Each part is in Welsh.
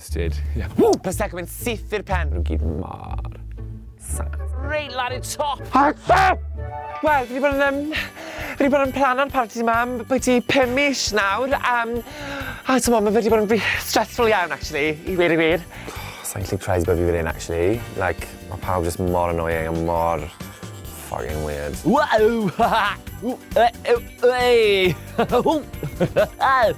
Ysted. Ww! Prosecco yn syth i'r pen. Rwy'n gyd mor sas. Reit lan i'r top! Hata! Wel, fi wedi bod yn... Um, fi wedi bod yn plan o'n parti yma am bwyty 5 mis nawr. Um, a ti'n meddwl, mae wedi bod yn stressful iawn, actually, i wir i wir. Sa'n gallu prize bod fi fan hyn, actually. Like, mae pawb jyst mor annoying a mor fucking weird. Wow!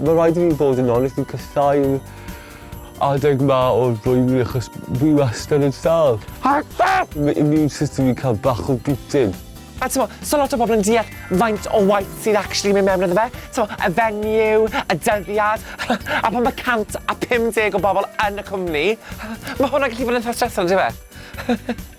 Mae'n rhaid i fi fod yn onest, fi'n casáu'r adeg 'ma o'r flwyddyn achos fi wastad yn sâl. Mae immune system fi'n cael bach o beating. A t'mo', so lot o bobl yn deall faint o waith sydd actually mynd mewn iddo fe, t'mo', y venue, y dyddiad, a pan ma' 150 o bobl yn y cwmni, ma' hwnna'n gallu bod yn itha stressful on'd yw e?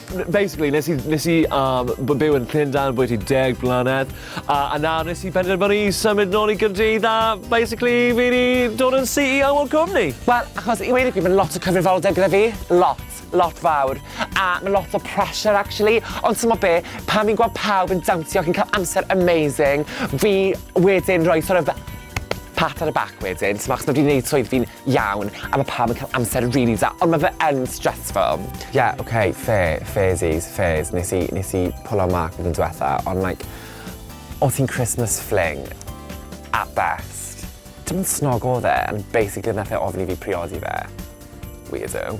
Basically, nes i, nes i um, byw yn Llundain bwyty deg blynedd, a, a nawr nes i benderfynu i symud nôl i Gyrdydd a basically fi wedi dod yn CEO o'r cwmni. Wel, achos i wedi fi, mae'n lot o cyfrifoldeb gyda fi, lot, lot fawr, a mae lot o pressure actually, ond ti'n mo be, pan fi'n gweld pawb yn dawnsio ac yn cael amser amazing, fi wedyn rhoi sort of pat ar y bac wedyn, ti'n mo, achos mae wedi gwneud swydd fi'n iawn a ma' pawb yn cael amser rili da ond ma' fe yn stressful. Ie ok fair, fairsies, fairs nes i nes i pwlo marc blwyddyn dwetha ond like o' ti'n Christmas fling at best. Dim ond snog odd e and basically nath e ofyn i fi priodi fe. Weirdo.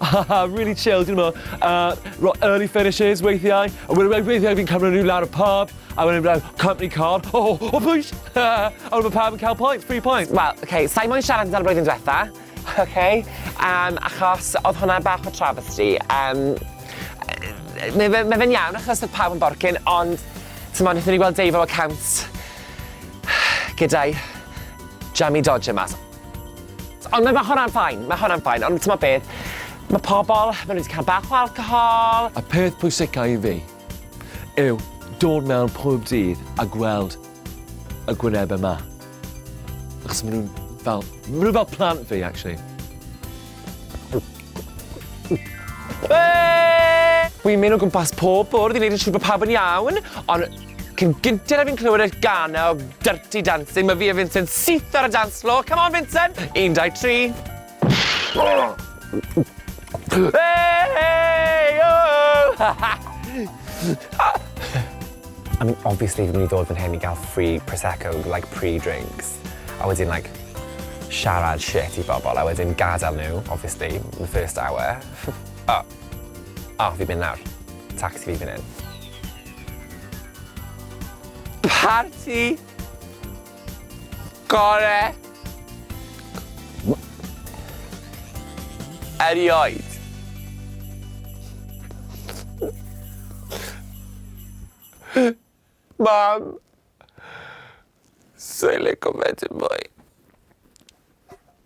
Haha, really chill, dyn nhw fel, uh, early finishes weithiau, a wedyn weithiau fi'n cymryd nhw lawr y pub, a wedyn fel, company car, oh, oh, oh, please, a wedyn mae pawb yn cael points, free points. Wel, oce, okay, sa'i moyn siarad amdano'r blwyddyn diwetha, oce, okay, um, achos oedd hwnna bach o travesty. Um, mae fe, mae fe'n iawn achos oedd pawb yn borcyn, ond, ti'n modd, wnaethon ni gweld Dave o account gyda'i jammy dodger mas. Ond mae hwnna'n fine, mae hwnna'n fine, ond timod be, mae pobl, maen nhw wedi cael bach o alcohol. Y peth pwysica i fi yw dod mewn pob dydd a gweld y gwynebau 'ma. Achos maen nhw'n fel, maen nhw fel plant fi, actually. Whee! Wi'n mynd o gwmpas pob bwrdd i wneud yn siŵr bod pawb yn iawn, ond... Cyn gynted a fi'n clywed y gan o Dirty Dancing, mae fi a Vincent syth ar y dance floor. Come on, Vincent! Un, dau, tri. Hey, hey, oh! I mean, obviously, fi'n mynd i ddod fan hyn i gael free Prosecco, like pre-drinks. A wedyn, like, siarad shit i bobl, a wedyn gadael nhw, obviously, in the first hour. oh, oh, fi'n mynd nawr. Taxi fi fan hyn. Parti gore erioed. Mam, sai'n lico fe dim mwy.